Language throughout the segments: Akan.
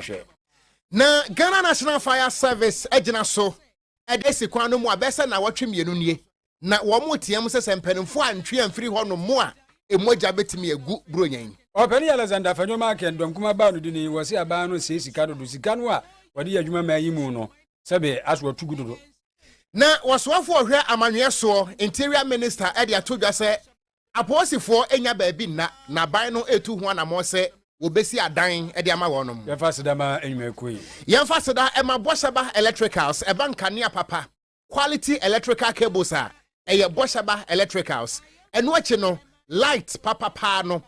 Hwɛ. Na Ghana National Fire Service agyina so de asi kwan no mu a bɛsɛ nnawɔtwe mmienu nie, na wɔretea mu sɛ sɛ mpanimfoɔ antwe amfiri hɔnom mu a, mogya bɛtumi agu Buronya yi. Ɔpanin Alexander Afenyo maa Ken Dɔmkum abaa no dini, wɔse abaa no see sika dodo, sika no a wɔde yɛ adwuma maa yi mu no, sɛbe aso atu gu dodo. Na wɔsoafoɔ ɔhwɛ amanyɔɛ soɔ, Interior Minister de ato dwa sɛ Apolisifoɔ nnya baabi nna na aban no retu ho anammɔn sɛ wɔbɛsi adan de ama wɔn. Yɛmfa aseda ma nnwumakuo yi. Yɛmfa aseda ma Boshaba Electricals, ɛba nkanea papa, quality electrical cables a, ɛyɛ Boshaba Electricals. Ɛno akyi no, light papa paa no,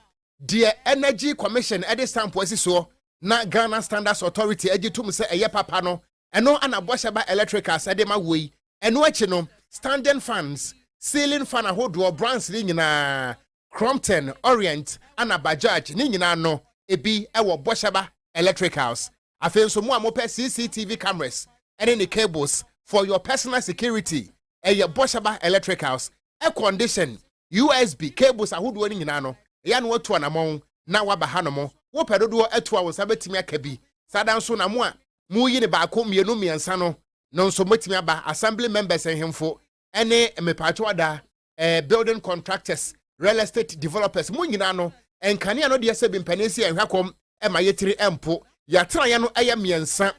deɛ Energy Commission de stamp asi soɔ na Ghana Standards Authority gye tom sɛ ɛyɛ papa no, Ɛno na bɔhyɛ ba electricals de ma woɔ yi. Ɛno akyi no, standing fans, ceiling fan ahodoɔ, brands no nyinaa, Crompton, Orient ɛna Bajaj, ne nyinaa no, ebi wɔ bɔhyɛ ba electricals. Afei nso mo a mopɛ CCTV cameras ne ne cables for your personal security, ɛyɛ bɔhyɛ ba electricals air condition usb cables ahodoɔ no nyinaa no ɛyɛ ano atu anamɔn na waba hanom wopɛ dodoɔ atu a wo nsa bɛtumi aka bi saa da nso na mo a moyi ne baako mmienu mmiɛnsa no no nso mɛtumi aba assembly members nhemfo ɛne mepaakyɛw ada eh, building contractors real estate developers mo nyinaa no nkanea no deɛ sɛ bi mpanin si ɛnhwɛ kɔm ɛma yɛtiri ɛmpo yɛatenaeɛ no ɛyɛ mmiɛnsa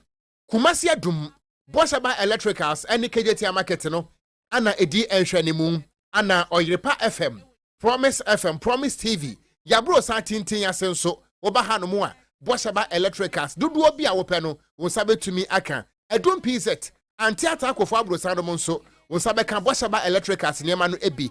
Kumasi Adum, Boasaba Electricals ne Kejetia Market no na ɛdi nhwɛanimu. Ana Ɔyerepa FM, Promise FM, Promise TV, Yaburo san tintin ase nso woba hanom a, Boasaba Electricals dodoɔ bi a wopɛ no wo nsa bɛtumi aka. Adum PZ, Ante Atakofo Aborosan nom nso wo nsa bɛka Boasaba Electricals nneɛma no bi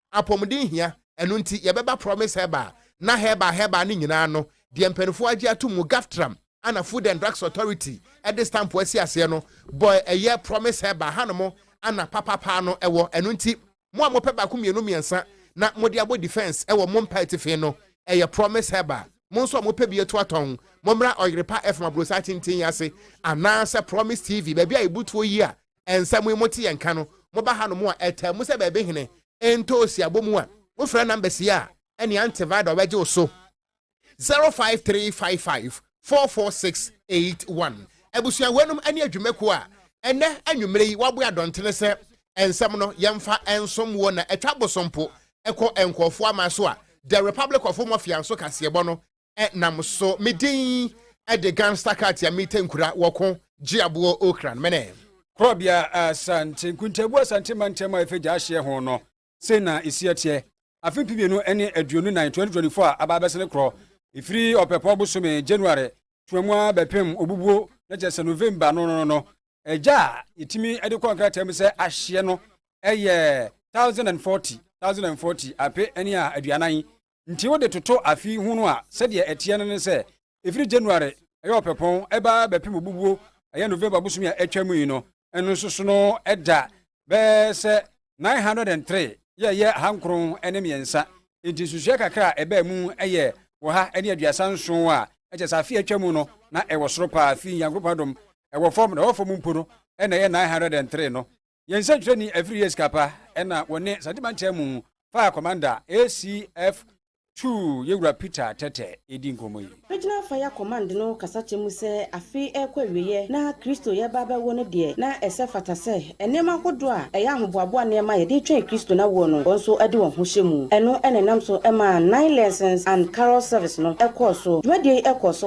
Apɔmuden hia, ɛno nti yɛbɛba Promise Herbal na Herbal Herbal no nyinaa ano. Deɛ mpaninfoɔ agye atom mu Gaptram a na Food and Drugs Authority de stamp asi aseɛ no bɔ ɛyɛ Promise Herbal hanom a na papapaa no wɔ. Ɛno nti mo a mopɛ baako mmienu mmiɛnsa na mode abɔ defence wɔ mo mpa atifi no, ɛyɛ Promise Herbal. Mo nso a mopɛ bi atu atɔn, mommra Ɔyerepa FM abrossan tenten yi ase anaasɛ Promise TV, baabi a ɛbutuo yi a Nsɛm yi mote yɛ nka no, moba hanom a, ɛtaa mu sɛ baabi hene ntɔ osi abɔmu a, wofrɛ numbers yi a, ɛne antiviral bɛgye wo so, 0535544681. Abusua weinom ne adwumakuo a ɛnɛ anwumerɛ yi waboa dɔntene sɛ nsɛm no yɛmfa nsom wɔ na atwa bosompo ɛkɔ nkɔɔfoɔ ama so a The Republic of Mafia nso kaseɛbɔ no nam so me din de gangster cat ya mita nkura wɔ ko gye aboɔ okran mene. Korɔbea Asante nkuntabu Asante mantam a ɛfɛ gya ahyeɛ ho no sei na ɛsi ɛteɛ afe mpi mmienu ne aduonu nan 2024 a aba abɛsene korɔ ɛfiri ɔpɛpɔ bosome January tuamua bɛpem obubuo na kyɛ sɛ November no no no ɛgya a yɛtumi de kɔ nkrataa mu sɛ ahyeɛ no ɛyɛ 1040 1040 ape ne a aduanan Nti wode toto afe hunu a, sɛdeɛ ɛteɛ no ne sɛ, ɛfiri January, ɛyɛ ɔpɛpɔn, ɛba bɛpem obubuo, ɛyɛ November bosome a atwam yi no, ɛno nso so no ɛda bɛyɛ sɛ 903 yɛ ɛyɛ aha nkron ne mmiɛnsa. Nti nsusuiɛ kakra a ɛbaa mu yɛ ɔha ne aduasa nson a ɛkyɛ sɛ afe a atwa mu no na ɛwɔ soro paa, firi Nyankopɔn adom, ɛwɔ fam, na ɛwɔ fam mpo no na ɛyɛ 903 no. Yɛn nsɛntwerɛni Afiri Yes Kapa na wɔne Asante Mantam mu faa Commander ACF Two Yɛwura Peter Tɛtɛ redi nkɔmmɔ yi. Regional Fire Command no kasakyɛ mu sɛ afe rekɔ awieɛ na Kristo yɛreba abɛwo no deɛ, na ɛsɛ fata sɛ nneɛma ahodoɔ a ɛyɛ ahoboaboa nneɛma a yɛde twɛn Kristo n'awoɔ no, wɔn nso de wɔn ho hyɛ mu. Ɛno na ɛnam so maa Nine Lessons and Carols Service no kɔɔ so. Dwumadie yi kɔɔ so.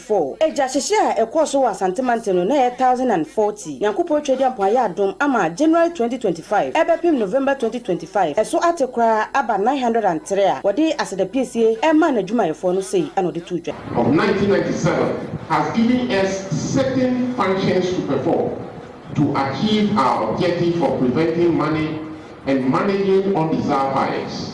Four. Agyahyehye a ɛkɔɔ so wɔ Asante Mantam no na ɛyɛ thousand and forty. Nyankopɔn Twadiampɔn ayɛ adom ama January twenty twenty five ɛbɛpem November twenty twenty five ɛso ate koraa aba nine hundred and three a wɔde asedapiesie ɛmaa n'adwumayɛfoɔ no sei na ɔde too dwa. of nineteen ninety seven has given us certain functions to perform to achieve our objective of preventing money and managing undesirable buyers.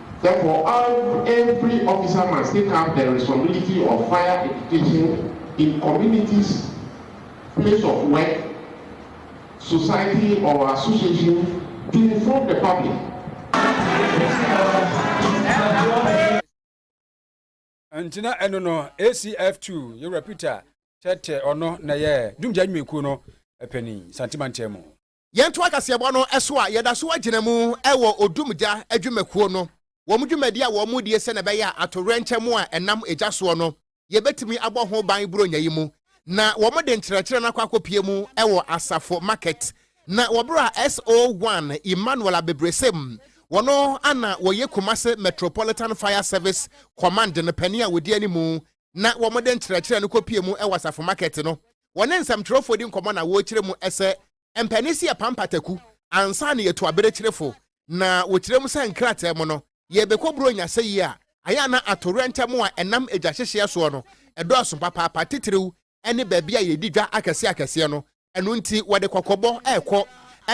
Therefore, ev every officer must take up the responsibility of fire education in communities, place of work, society or association to inform the public. ntina ɛno no acf2 yɛwura peter kyɛtɛ ɔno na yɛ dumgya nnwumakuo no ɛpɛni santemantam mu Yɛntoa kaseɛbɔ no so a, yɛda so agyina mu wɔ Odumgya adwumakuo no wɔn dwumadi a wɔn die sɛnea ɛbɛyɛ a atowerɛnkyɛm a ɛnam egya soɔ no yɛbɛtumi abɔ ho ban Buronya yi mu na wɔn de nkyerɛkyerɛ no akɔ akɔpie mu wɔ Asafo Market na wɔ berɛ a SO1 Emmanuel Abebresem wɔn ana wɔyɛ Kumase Metropolitan Fire Service Command no panin a wɔdi animu na wɔde nkyerɛkyerɛ no kɔpie mu wɔ Asafo Market no, wɔne nsɛmtwerɛfoɔ di nkɔmmɔ na wɔkyerɛ mu sɛ ɛmpɛ ne sɛ yɛpam pataku ansa na yɛtu aberekyerefo, na wɔkyerɛ mu sɛ nkrataa mu no yɛrebɛkɔ Buronya sɛ yie a, ayɛ a na atowerɛnkyɛm a ɛnam egya hyehyeɛ soɔ no dɔɔso papaapa, titiriw ne baabi a yɛdi dwa akɛseakɛseɛ no Ɛno nti, wɔde kɔkɔbɔ rekɔ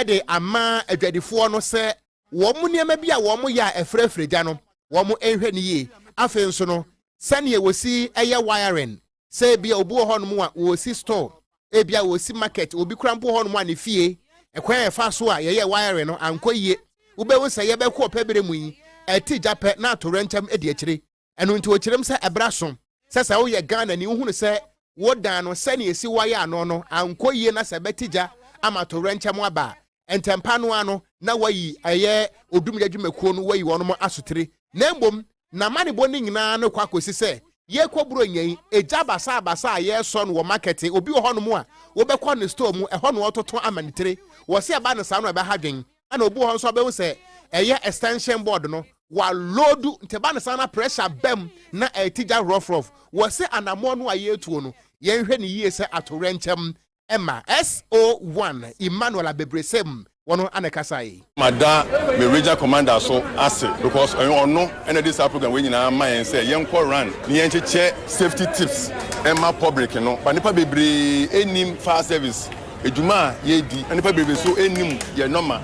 de ama adwadifoɔ no sɛ wɔn nneɛma bi a wɔyɛ a ɛfrafra gya no, wɔnhwɛ no yie. Afei nso no, sɛdeɛ wɔsi yɛ wiring, sɛ ebia obi wɔ hɔnom a ɔresi store, ebia ɔresi market, obi koraa mpo wɔ hɔnom a ne fie, ɛkwan a yɛfa so a yɛyɛ wiring no ankɔ yie. Wobɛhu sɛ yɛbɛkɔ ɔpɛ berɛ mu yi, ɛte gya pɛ na atoyerɛnkyɛm di akyire. Ɛno nti ɔkyerɛm sɛ ɛberɛ aso sɛ sɛ woyɛ Ghanani wohunu sɛ wo dan no sɛnea ɛsi wɔ ayɛ ano no ankɔ yie na sɛ ɛbɛte gya ama atowerɛnkyɛm aba a, ntɛmpa no ara no na wayi ɛyɛ odum gya dwumakuo no wayi wɔn asotire na mmom n'amanebɔ no nyinaa no kɔ akɔsi sɛ yɛkɔ Buronya yi, egya basabasa a yɛresɔ no wɔ market, obi wɔ hɔnom a wobɛkɔ ne store mu, ɛhɔ na ɔtoto ama ne tire, wɔse ɛba no saa no ɛbɛha dwen, ɛna obi wɔ hɔ nso abɛhu sɛ ɛyɛ extension board no waloodu nti ɛba ne saa na pressure bɛm na ɛti gya rɔfrɔf wɔ se anamoɔ no a yɛretuo no yɛnhwɛ ne yie sɛ atowerɛnkyɛm ɛma so1 emmanuel abebresem wɔn ana ɛkasa yi. mada me regional commander so ase because ɛyɛ ɔno ɛna de saa program wei nyinaa ma yɛn sɛ yɛnkɔ run ne yɛnkyekyɛ safety tips ɛma public no ba nipa bebree ɛnim fire service Edwuma a yɛredi na nipa bebrebe so nnim yɛ nɔma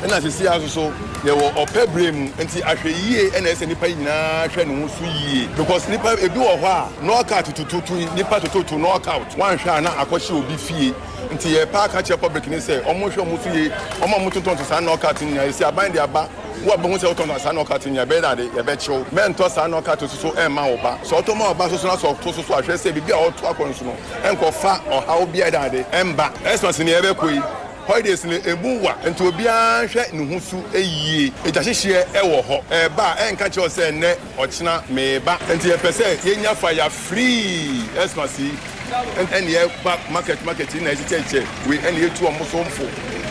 na sesei ara nso so yɛwɔ ɔpɛ bere mu nti ahwɛyie na ɛsɛ nipa nyinaa hwɛ ne ho so yie because nipa ebi wɔ hɔ a nɔɔka tutututu yi nipa tututu nɔɔkaut wanhwɛ a na akɔhyɛ obi fie nti yɛpɛ aka kyerɛ public ne sɛ ɔmo hwɛ ɔmo so yie ɔmo a ɔmo tontɔn to saa nɔɔkaut no nyinaa esi aban de aba wo a bɛhu sɛ wotɔn saa nɔɔkaut no nyinaa bɛyɛ dade yɛbɛkyew mɛntɔ saa nɔɔkaut so so ɛmma wo ba sɛ ɔtɔ ma wo ba so so na sɛ ɔto so so ahwɛ sɛ biribi a ɔto akɔ nso no nkɔfa ɔhaw biara de mma Xmas nea ɛbɛkɔ yi. Holidays no emu wa nti obiara nhwɛ ne ho su yie. Egyahyehyeɛ wɔ hɔ, ɛreba a ɛnka kyerɛ wo sɛ nnɛ, ɔkyena meba. Nti yɛpɛ sɛ yɛnya fa ya firii Xmas yi ɛna yɛba market market yi na yɛkyekyɛkyekyɛ wei ɛna yɛtu wɔn so mfo.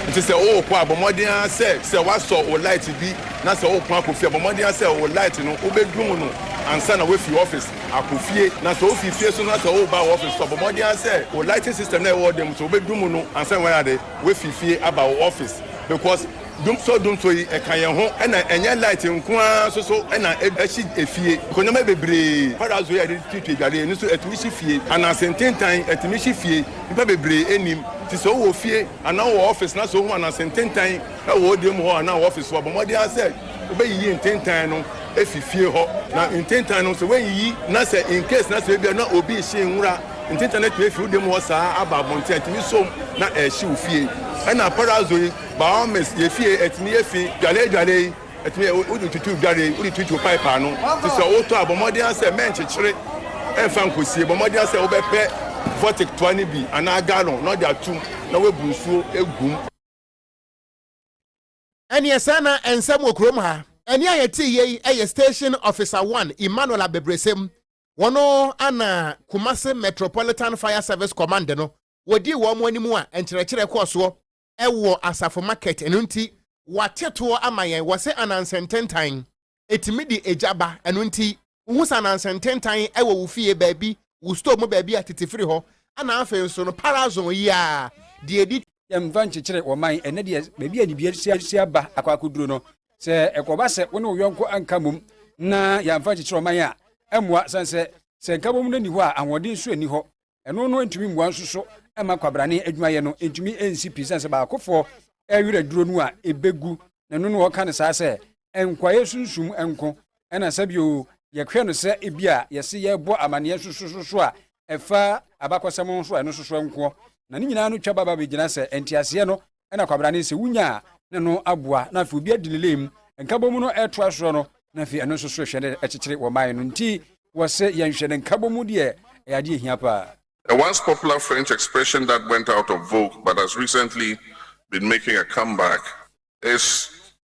Nti sɛ worekɔ a bɔ mmɔden ara sɛ sɛ woasɔ wo light bi na sɛ worepɔn akɔ fie a bɔ mmɔden ara sɛ wo light no wobɛdum no ansa na woafi office. akɔ fie. Na sɛ wofi fie nso na sɛ woreba wo office nso a, bɔ mmɔden ara sɛ wo lighting system no a ɛwɔ dan mu nso wobɛdum mu no ansa na woayɛ ade. Woafi fie aba wo office because dumsɔ dumsɔ yi ɛka yɛn ho na ɛnyɛ light nko ara nso so na ɛhye efie. Because nneɛma bebree, parazzo yi a yɛde tuatua adware yi, ɛno nso ɛtumi hye fie. Ananse ntentan, ɛtumi hye fie. Nnipa bebree nnim. Nti sɛ wowɔ fie anaa wowɔ office na sɛ wohu ananse ntentan wɔ wo dan mu hɔ anaa wo office hɔ a, bɔ mmɔden ara sɛ, Wobɛyiyi ntentan no afi fie hɔ. Na ntentan no sɛ woanyiyi na sɛ in case na sɛ ebia na obi rehye nwura, ntentan no atumi afi wo dan mu hɔ saa aba abɔnten a, ɛtumi som na ɛhyew fie. Ɛna parazzo yi, by all means, yɛ fie, ɛtumi yɛ fi. Dwale dwale yi, ɛtumi yɛ wode tutu dware, wode tutu pipe ano. Nti sɛ wotɔ a, bɔ mmɔden ara sɛ mɛnkyekyere ɛmfa nkosie. Bɔ mmɔden ara sɛ wobɛpɛ vortic toa no bi anaa gallon na wode atom na woabu nsuo agu mu. Ɛneɛ sɛɛ na nsɛm wɔ kurom ha. Ɛnne a yɛtee yei yɛ Station Officer One Emmanuel Abebresem, wɔno ana Kumasi Metropolitan Fire Service Command no wɔdii wɔn anim a nkyerɛkyerɛ kɔɔ soɔ wɔ Asafo Market, ɛno nti wɔate toɔ ama yɛn, wɔse anansɛntentan ɛtumi de egya ba, ɛno nti wohu sananse ntentan wɔ wo fie baabi, wo store mu baabi a tete firi hɔ, ɛna afei nso no parazon yi a deɛ ɛdi. Yɛmfa nkyekyere wɔ man ɛnɛ deɛ baabi a nnidiɛ si aba akɔ akɔduru no, sɛ ɛkɔba sɛ wo ne wo yɔnko anka mmom na yɛamfa nkyekyere ɔman a, ɛmmoa, sane sɛ sɛ nkabom no nni hɔ a ahoɔden nso nni hɔ. ɛno no ntumi mmoa nso so mma kwabrane adwumayɛ no ntumi nsi pi sɛ sɛ baakofoɔ ɛwerɛ duro no a ɛbɛgu na ɛno no ɔka no saa sɛ nkwaeɛ sunsum nko ɛna sɛ bio yɛhwɛ no sɛ ebi a yɛse yɛbɔ amanneɛ sosososo a ɛfa abakɔsɛm nso a ɛno soso nkoɔ na ne nyinaa no twa baba bɛgyina sɛ nteaseɛ no ɛna kwabena ne sɛ wonya a na no aboa na afei obi adi ne lane mu nkabɔ mu no ɛtoa soɔ no na afei ɛno nso so ɛhwɛ ne ɛkyekyere wɔ man no nti wɔ se yɛnhwɛ ne nkabɔ mu deɛ ɛyɛ adeɛ ɛhia paa. A once popular French expression that went out of vogue but has recently been making a comeback is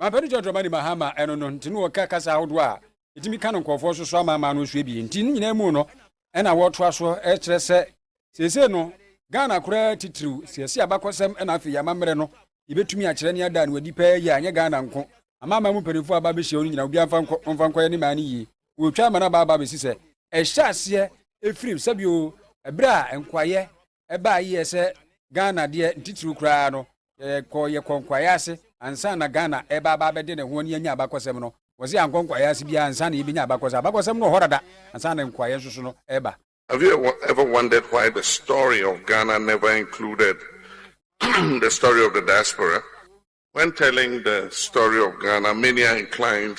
Mampɛdu John Dramani Mahama ɛno no nti no wɔka kasa ahodoɔ a ɛtumi ka no nkurɔfoɔ so so amaamaa no so abie nti no nyinaa mu no ɛna wɔtoa so ɛkyerɛ sɛ seesei no Ghana koraa titiriw siasi abakɔsɛm ɛna afei amammerɛ no yɛbɛtumi akyerɛ ne ada no adi pɛɛ yie a ɛnyɛ Ghana nko amaamaa mu mpanimfoɔ aba bɛhyia no nyinaa obiara mfa nkɔ ɔmfa nkɔyɛ ne maa no yie wɔtwa ama no aba aba bɛsi sɛ ɛhyɛ aseɛ ɛfirim sɛbio ɛberɛ a nkoayɛ ɛbaa yie sɛ ghana deɛ ntitiriw koraa no yɛkɔ yɛkɔ nkwaeɛ ase ansa na ghana ɛba aba abɛde ne ho ne anya abakɔsɛm no wɔsɛ yɛankɔ nkwaeɛ ase biara ansa na yɛbɛnya abakɔsɛm abakɔsɛm no wɔ hɔ dada ansa na nkwaeɛ nso so no ɛba Have you ever wondered why the story of Ghana never included the story of the diaspora? When telling the story of Ghana, many are inclined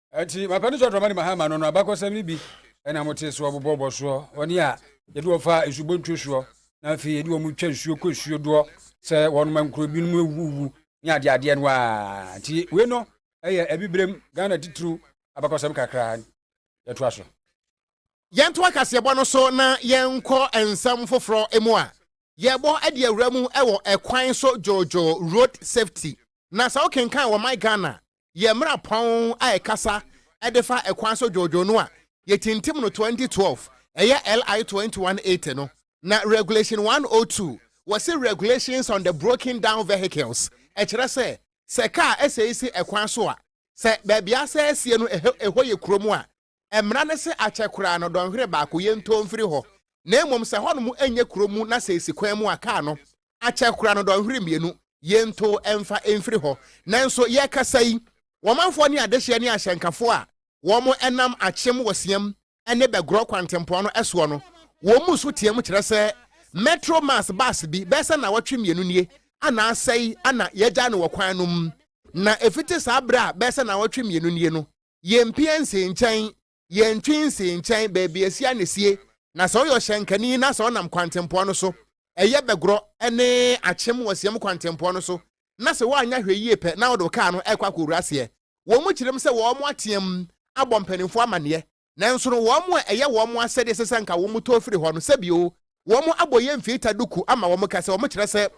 Enti, mapɛ no sɛ ɔdɔma ne Mahama no no abakɔsɛm no bi ɛna mo te soɔ bobɔ bɔ soɔ wɔne a yɛde wɔn fa nsubontuo soɔ na afei yɛde wɔn twa nsuo kɔ nsuo doɔ sɛ wɔn ma nkuro binom awuwu ne adeɛ adeɛ no a nti wei no ɛyɛ abibrem Ghana titiriw abakɔsɛm kakra yɛtoa so. Yɛnto akaseɛbɔ no so na yɛnkɔ nsɛm foforɔ mu a, yɛbɔ de awura mu wɔ ɛkwan so dwoodwoo, road safety, na sɛ wokenkan wɔ My Ghana yɛ mmara pɔn a ɛkasa de fa kwan so dwoodwoo no a yɛtintim no 2012, ɛyɛ LI 2180 no, na Regulation 102, wɔse Regulations on the Broken Down Vehicles, ɛkyerɛ sɛ, sɛ kaa asɛe si kwan so a, sɛ baabi a asɛe asie no ɛhɔ yɛ kurom a, Mmara no se akyɛ koraa no dɔnhwere baako yɛ ntoo mfiri hɔ, na mmom sɛ hɔnom nyɛ kuro mu na sɛ esi kwan mu a kaa no akyɛ koraa no dɔnhwere mmienu yɛ ntoo mfa mfiri hɔ. Nanso yɛrekasa yi, wɔmanfoɔ ne adehyeɛ ne ahyɛnkafoɔ a wɔn nam akyem wɔ Siam ne Bɛgorɔ kwantempɔn no soɔ no, wɔn mu nso team kyerɛ sɛ Metro Mass bus bi bɛyɛ sɛ nnawɔtwe mmienu nie a na asɛe a na yɛagyae no wɔ kwan no mu. Na ɛfiti saa berɛ a bɛyɛ sɛ nnawɔtwe mmienu nie no, yɛmpie nsee nkyɛn, yɛntwe nsee nkyɛn baabi asia na esie, na sɛ ɔyɛ ɔhyɛnkani na sɛ ɔnam kwantempɔn no so, ɛyɛ bɛgorɔ ne akyem wɔ siam kwantempɔn no so, na sɛ woanyɛ hwɛ yie pɛ na wode wo kaa no rekɔ akɔwura aseɛ. Wɔn kyerɛm sɛ wɔateam abɔ mpanimfoɔ amanneɛ, nanso no wɔn a ɛyɛ wɔn asɛdeɛ sɛ sɛ anka wɔtɔ firi hɔ no, sɛbio wɔabɔ yɛn mfiita duku ama wɔn kɛse, wɔkyerɛ sɛ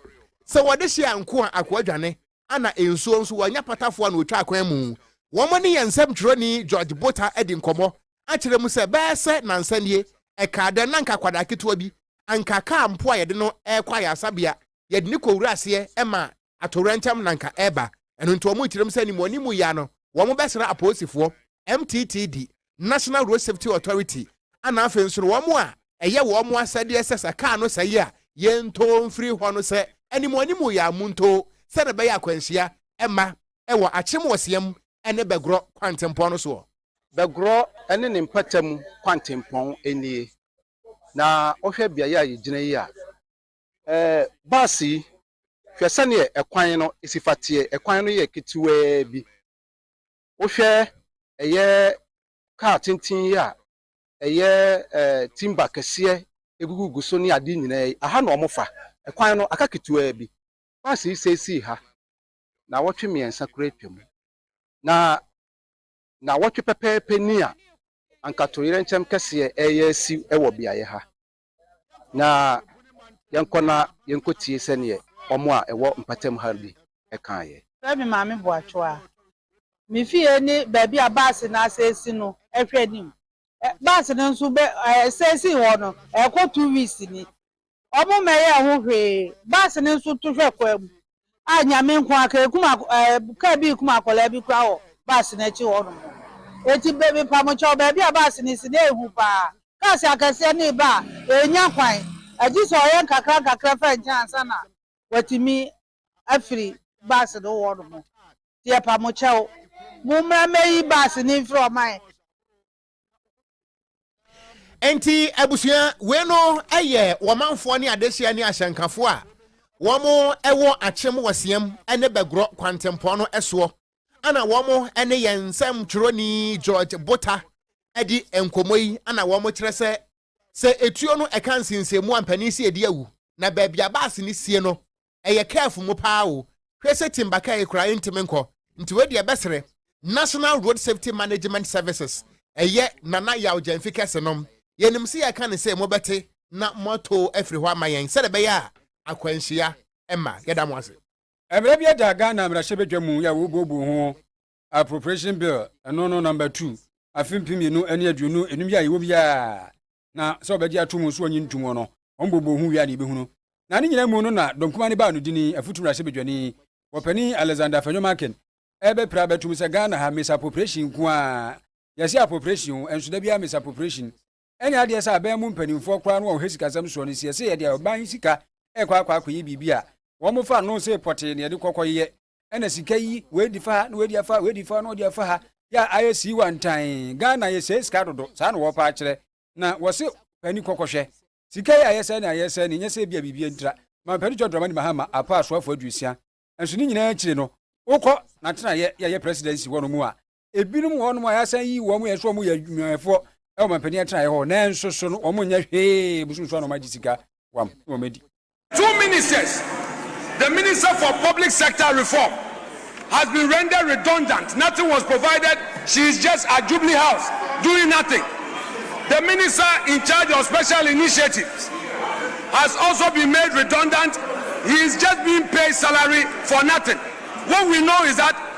sɛ wɔde hye a nkoa akoa dwane. Anna Nsuo nso, wanya patafoɔ na ɔtwaa kwan mu. Wɔn ne yɛn nsɛmtwerɛni George Botha adi nkɔmmɔ akyerɛ mu sɛ, bɛyɛ sɛ nnansa nie, ɛkaa dɛn na anka akwadaa ketewa bi, anka kaa mpo a yɛde no rekɔ ayaresabea, yɛde no kɔwura aseɛ maa atowerɛnkyɛm na anka ɛreba. Ɛno nti wɔrekyerɛ mu sɛ animuanimu yea no, wɔbɛsra apolisifoɔ. MTTD, National Road Safety Authority, ɛna afei nso no wɔn a ɛyɛ wɔn asɛdeɛ sɛ sɛ kaa no sɛe a, yɛntoo mfiri hɔ no sɛ anim anim yɛ a montoo sɛdeɛ ɛbɛyɛ a akwanhyia mma wɔ Akyem Wɔseam ne Bɛgorɔ kwantempɔn no soɔ. Bɛgorɔ ne ne mpata mu kwantempɔn nie, na wohwɛ beaeɛ a yɛgyina yi a, bus yi, hwɛ sɛdeɛ kwan no si fa teɛ, kwan no yɛ ketewaa bi. Wohwɛ ɛyɛ car tenten yi a ɛyɛ timber kɛseɛ ɛgugugu so ne adeɛ nyinaa yi, aha na wɔfa. Kwan no aka ketewaa bi. Bus yi sɛi sii ha nnawɔtwe mmiɛnsa koraa atwam. Na nnawɔtwe pɛpɛɛpɛ ni a anka toyerɛnkyɛm kɛseɛ reyɛ asi wɔ beaeɛ ha. na yɛnkɔ na yenkotie sɛdeɛ wɔn a ɛwɔ mpatamu ha bi kaeɛ. Frɛ me Maame Boakyewa. Me fie ne baabi a baase no asɛsi no hwɛ anim. Baase no nso bɛ ɛsɛsi hɔ no ɛkɔ two weeks ni. Wɔmmɛyɛɛ ho hwee. Baase no nso to hwɛ kwan mu. a Nyame nko ara kɛɛ kum akɔ ɛɛ car bii kum akwadaa bi koraa wɔ bus no akyi hɔ nom no. Enti bɛ mepamo kyɛw baabi a bus no si na ehu paa. Cars akɛseɛ no reba a ɛrenya kwan. Agye sɛ ɔyɛ nkakra nkakra fa nkyɛn ansa na watumi afiri bus no hɔ nom. Nti yɛpamo kyɛw. Mommra mmɛyi bus no mfiri ɔman. nti abusua wei no yɛ wɔmanfoɔ ne adehyɛ ne ahyɛnkafoɔ a wɔn wɔ akyem wɔ siam ne bɛgorɔ kwantempɔn no soɔ ana wɔn ne yɛn nsɛm twerɛni george bota adi nkɔmmɔ yi ana wɔn kyerɛ sɛ sɛ etuo no ɛka nsensenmu a mpanin si edi awu na baabi a baase no sie no ɛyɛ careful mo paa o hwɛ sɛ timba car yi koraa entimi nkɔ nti wei deɛ bɛsrɛ national road safety management services ɛyɛ nana yaw gyamfi kɛse nom yɛnim sɛ yɛka ne sɛ mobɛte na moato afiri hɔ ama yɛn sɛde ɛbɛyɛ a akwanhyia ɛma yɛda mo ase. Mmara bi da Ghana mmarahyɛbadwa mu yɛ wobuobuo ho Appropriation Bill ɛno no number two afe mpem mmienu ne aduonu enum yi a yɛwɔ mu yi a na sɛ ɔbɛgye ato mu nso ɔnye nto mu no, wɔn bɔbɔ hu wia ne ibehu no. Na ne nyinaa mu no na dɔnkuma ne baa no dini, afutu mmarahyɛbadwani, wɔpani Alexander Afenyo Makin, ɛrebɛpira abɛto mu sɛ Ghana ha misappropriation nko ara, yɛse appropriation o, nso da biara misappropriation ɛnyɛ adeɛ sɛ aban mu mpanimfoɔ koraa no wɔn hɛ sikasɛm soɔ no, sɛ yɛse yɛde ɔban sika ɛrekɔ akɔ akɔyɛ biribi a, wɔn fa no sɛ pɔtee na yɛde kɔkɔyɛ. ɛna sika yi wɔadi fa ha na wɔadi afa ha wɔadi fa ha na wɔadi afa ha yɛ a ayɛ sii wantan ghana yɛsɛe sika dodo saa na wɔpa akyerɛ na wɔse pani kɔkɔhwɛ sika yi ayɛ sɛ ne ayɛ sɛ ne nyɛ sɛ bia biribi ntira ma mpani jɔ dramani mahama apa asoafo aduosia nso ne nyinaa akyire no wokɔ na tena yɛ yɛyɛ presidency hɔ no mu a ebinom wɔ hɔnom a yɛasan yi wɔn yɛ nso wɔn yɛ adwumayɛfoɔ ɛwɔ mampanin atenaeɛ hɔ nanso so no wɔn nyɛ hwee bosom so a na wɔn agye sika wam na wɔn adi. Two ministers, The Minister for Public Sector Reform has been rendered redundant, nothing was provided, she is just at Jubilee House doing nothing. The Minister in charge of Special Initiatives has also been made redundant, he is just being paid salary for nothing. What we know is that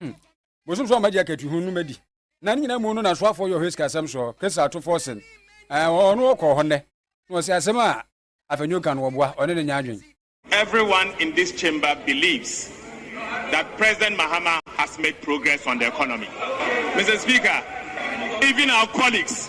hmm. bosom sɛ ɔmagye akatuhu no madi na ne nyinaa mu no nasoafoɔ yɛ ɔhɛsika asɛm soɔ kesa atofoɔ sen ɔno ɔkɔɔ hɔ nnɛ na ɔsɛ asɛm a afɛnwo ka no wɔboa ɔne ne nya adwen Everyone in this chamber believes that President Mahama has made progress on the economy. Mr. Speaker, even our colleagues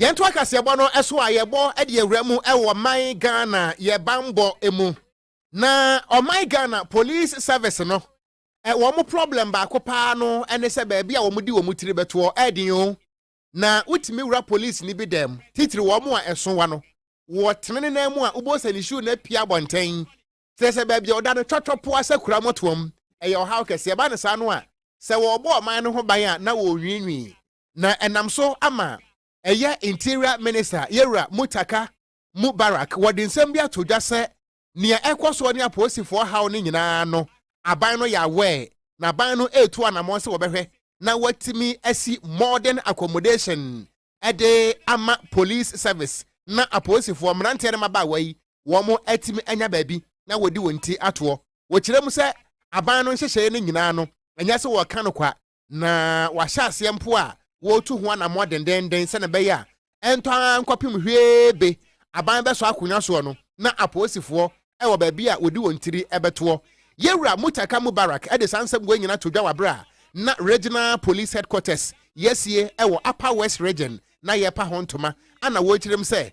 Yɛntoa kaseɛbɔ no so a yɛbɔ de yɛwura mu wɔ ɔman Ghana yɛ banbɔ mu. Na ɔman Ghana police service no wɔn problem baako paa no ne sɛ baabi a wɔn de wɔn tiri bɛtoɔ ɛɛden o. Na wotumi wura police ni bi dan mu titiri wɔn a ɛso wa no wɔ tene ne nan mu a wobɔ sɛ ne shoe no apia abɔnten kyerɛ sɛ baabi a ɔda no twɔtwɔ poa sɛ kura mɔtoam ɛyɛ ɔhaw kɛseɛ ba ne saa no a sɛ wɔrebɔ ɔman no ho ban a na wɔnwiinwii na ɛnam so ama ɛyɛ interior minister yɛwura mutaka mubarak wɔde nsɛm bi ato dwa sɛ nea ɛkɔ soɔ ne apolisifoɔ haw no nyinaa no aban no yɛ aware na aban no retu anammɔn sɛ wɔbɛhwɛ na wɔatumi asi modern accommodation de ama police service na apolisifoɔ mmeranteɛ ne mmabaawa yi wɔn atumi anya baabi na wɔdi wɔn ti atoɔ wɔkyerɛ mu sɛ aban no nhyehyɛeɛ no nyinaa no ɛnyɛ sɛ wɔka no kwa na wɔahyɛ aseɛ mpo a wɔretu ho anammɔ dendenden sɛnea ɛbɛyɛ a ɛntɔ ara nkɔpem hwee be aban bɛsɔ akonnwa soɔ no na apolisifoɔ wɔ baabi a wɔdi wɔn tiri bɛtoɔ. Yɛwura Mutaka Mubarak de saa nsɛm wei nyinaa to dwa wɔ aberɛ a na Regional Police Headquarters yɛasie wɔ Upper West Region na yɛrepa ho ntoma a na wɔrekyerɛm sɛ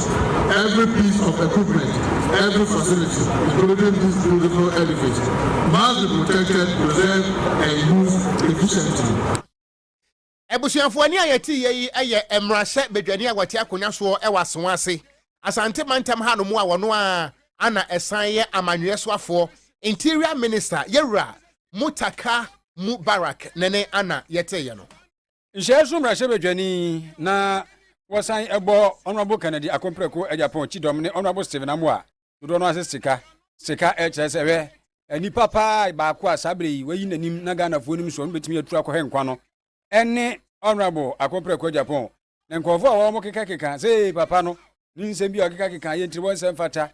every piece of equipment, every facility, including this beautiful edifice, must be protected, preserved, and used efficiently. Abusuafoɔ ani a yɛteeɛ yi yɛ mmarahyɛ badwani a wɔte akonnwa soɔ wɔ Asowa ase, Asante mantam hanom a ɔno ara ana ɛsan yɛ amanyɔeɛ soafoɔ, Interior Minister, Yɛwura Mutaka Mubarak, ne ne ana yɛteeɛ no. Nhyiae so mmarahyɛbadwani na wɔsan bɔ Honourable Kennedy Akompreko Agyapong Kyidɔm ne Honourable Stephen Amoah dodoɔ no ase sika. Sika kyerɛ sɛ hwɛ nipa paa baako a saa berɛ yi wayi n'anim na Ghanafoɔ nim soɔ no bɛtumi atu akɔ hɛ nkwa no ɛne Honourable Akompreko Agyapong. Na nkurɔfoɔ a wɔkekakeka sɛ papa no ne nsɛm bi a ɔkekakeka yɛ ntiriwɔ nsɛm fata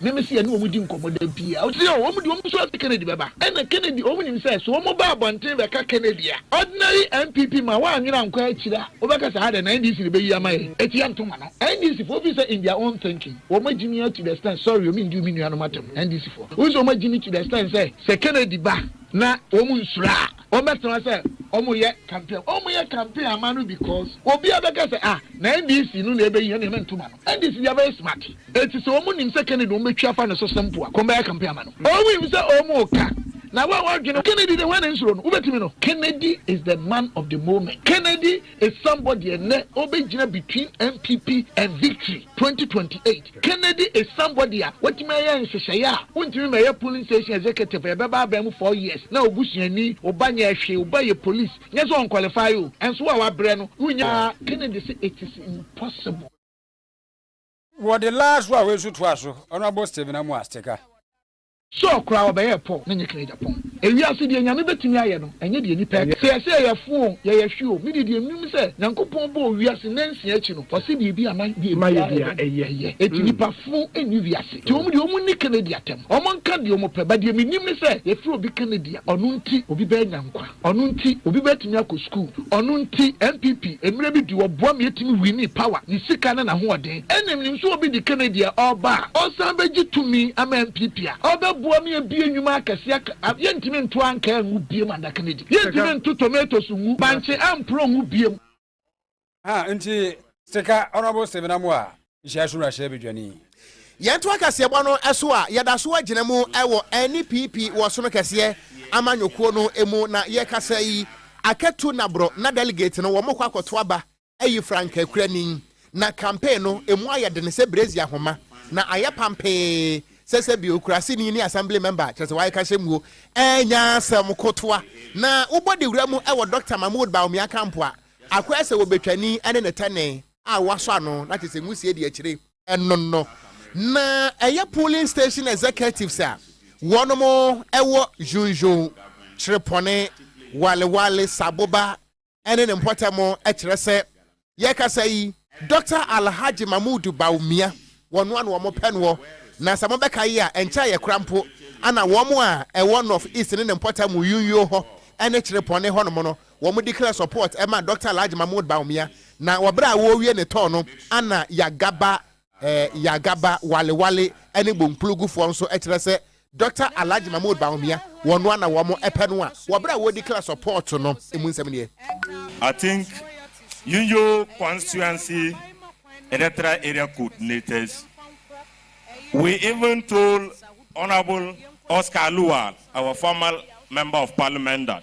Na me se yɛne wɔn di nkɔmmɔ da biara. Ɔse oh, wɔn deɛ wɔn nsuro sɛ Kennedy bɛba. Ɛna Kennedy, wɔn nim sɛ, so wɔn ba abɔnten bɛka Kennedy a, ordinary NPP man w'annwene ankɔ akyire a, wobɛka sɛ adɛn, na NDC na ɛbɛyi ama yɛn? Eti yɛnto ma no. NDC foɔ, wofi sɛ in their own thinking, wɔn agyi me ara to the extent, sorry o, mendiu me nuanom atɛm, NDC foɔ, wofi sɛ wɔn agyi me to the extent sɛ, sɛ Kennedy ba na wɔn nsuro a, Wɔn bɛ tena sɛ wɔn yɛ campaign wɔn yɛ campaign ama no because obi a bɛ kɛ sɛ ah na NDC no na ɛbɛ yi ɛne mɛ ntoma no NDC deɛ bɛ yɛ smart eti sɛ wɔn nim sɛ Kennedy wɔn bɛ twi afa no so simple a kɔn bɛ yɛ campaign ama no wɔn nim sɛ wɔn ka na wɔn a wɔn adwene Kennedy de hwan na nsuro no wo bɛ tumi no Kennedy is the man of the moment Kennedy. Esambɔ deɛ nnɛ ɔrebɛgyina between NPP and Victory twenty twenty eight. Kennedy Esambɔ deɛ a watumi ayɛ nhyehyɛeɛ a wontumi mmɛyɛ polling station executive a ɛbɛba abɛn mu four years na obusuani, oba nyɛɛ hwee, oba yɛ police, nyɛ sɛ ɔnqualify o, ɛnso wo a wabrɛ no wonnya. Kennedy se it is impossible. Wɔ the last one wei nso toa so, Honourable Stephen Amoah Steka. Sure koraa ɔbɛyɛɛ Paul ne Nick no agyapɔn. Ewiase deɛ Nyame bɛtumi ayɛ no ɛnyɛ deɛ nipa ɛka. Sɛ yɛse yɛyɛ fo o, yɛyɛ hwe o, me deɛ deɛ menim ne sɛ Nyankopɔn bɔɔ wiase nansia akyi no ɔse deɛ ebi anan deɛ ebi a ɛyɛ ɛyɛ ɛyɛ. Enti nipa fo nni wiase. Nti wɔn deɛ wɔn nni Kennedy atɛm. Wɔn nka deɛ wɔn pɛ but deɛ menim ne sɛ yɛfrɛ obi Kennedy a ɔno nti obi bɛɛnya nkwa. Ɔno nti obi bɛtumi akɔ sukuu. Ɔno nti NPP mmerɛ bi di wɔboa me ɛtumi winii power, ne sika ne n'ahoɔden. Ɛna menim sɛ obi de Kennedy a ɔreba a ɔsan bɛgye tumi ama NPP a ɔbɛboa me abue nnwuma akɛseɛ aka a yɛntumi nto ankaa ngu biem Ada Kennedy. Yɛntumi nto tomatoes ngu, bankye amporɔ ngu biem. Ah, nti sika honorable Stephen Amoah nhyia so wura hyɛ bedwani. Yɛnto akaseɛbɔ no so a yɛda so agyina mu wɔ NPP wɔ sono kɛseɛ amanyɔkuo no mu na yɛkasa yi akatu naborɔ na delegate no wɔn kɔ akɔto aba ayi frankakurani Na campaign no emu ayɛ den sɛ brezi ahoma, na ayɛ pampee sɛ sɛbi okuraseni ne assembly member, kyerɛ sɛ wayɛ kahyɛmuo, ɛɛnya asɛm kotoa. Na wobɔ dawura mu wɔ Doctor Mahmood Bawumia camp a, akɔyɛ sɛ wɔbɛtwani ne ne tɛnee a wɔasɔ ano, na kyerɛ sɛ nwusie di akyire. Ɛno no, na ɛyɛ polling station executives a wɔnom wɔ Junjun, Kyerepɔne, Walewale, Saboba, ne ne mpɔtam kyerɛ sɛ yɛrekasa yi, Dɔkta Alhaji Mahmood Bawumia, wɔnoa na wɔpɛ noɔ, na sɛ mobɛka yi a, ɛnkyɛ a yɛkora mpo, ɛna wɔn a ɛwɔ North East ne ne mpɔtam Uyunyuo hɔ ne Kyerepɔne hɔnom no, wɔn declare support ma Dɔkta Alhaji Mahmood Bawumia, na wɔ berɛ a wɔrewie ne tɔɔ no, ɛna Yagaba Eh, Yagaba, Wale Wale ne Bonkplugu foɔ nso kyerɛ sɛ Dɔkta Alhaji Mahmood Bawumia wɔn noa na wɔn pɛ no a wɔ berɛ a wɔredi kla sɔpɔɔto no emu nsɛm nie. I think Yinyo constituency electoral area coordinators we even told Honourable Oscar Lual our former member of parliament that.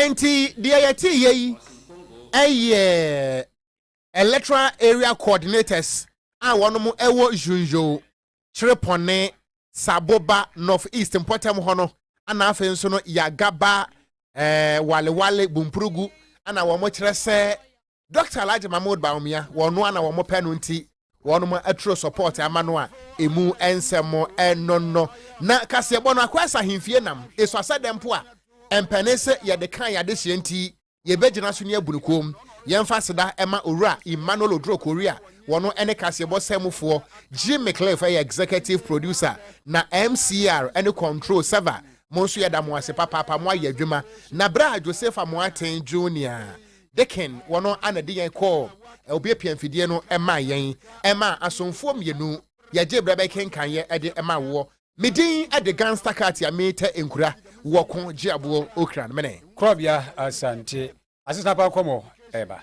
Enti deɛ yɛteeɛ yi yɛ electoral area coordinators a wɔn wɔ Zhuzhou, Chrepone, Saboba, North East mpɔtam hɔ no, ana afei nso no Yagaba, eh, Walewale, Bumpurugu, ana wɔn kyerɛ sɛ Doctor Alhaji Mahmood Bawumia, wɔnoa na wɔn pɛ no nti wɔnom aturo support ama no a emu nsɛm ɛnonno. Na kaseɛbɔ no akɔ ɛsɛ ahemfie nam eso asɛ dɛ mpo a ɛmpɛne sɛ yɛde kan yɛ adehyeɛ nti yɛbɛgyina so ne abu no koom. Yɛmfa aseda ɛma Owura Emmanuel Oduro Kori a wɔno ɛne kaseɛbɔ sɛmufoɔ, Jim McLeaf ɛyɛ executive producer na MCR ɛne control server mo nso yɛda mo ase papaapa mo ayɛ adwuma. Na berɛ a Joseph Amoaten Junior Deakin wɔ no a na ɛde yɛn kɔɔ obiapia mfidie no maa yɛn maa asomfoɔ mmienu yɛgye berɛ bɛkenkaneɛ de maa woɔ. Me din de Ganster Katia Meeta Nkura wɔ ko gye aboɔ Okran mene. Korɔbea Asante asetena pa nkɔmmɔ ɛreba.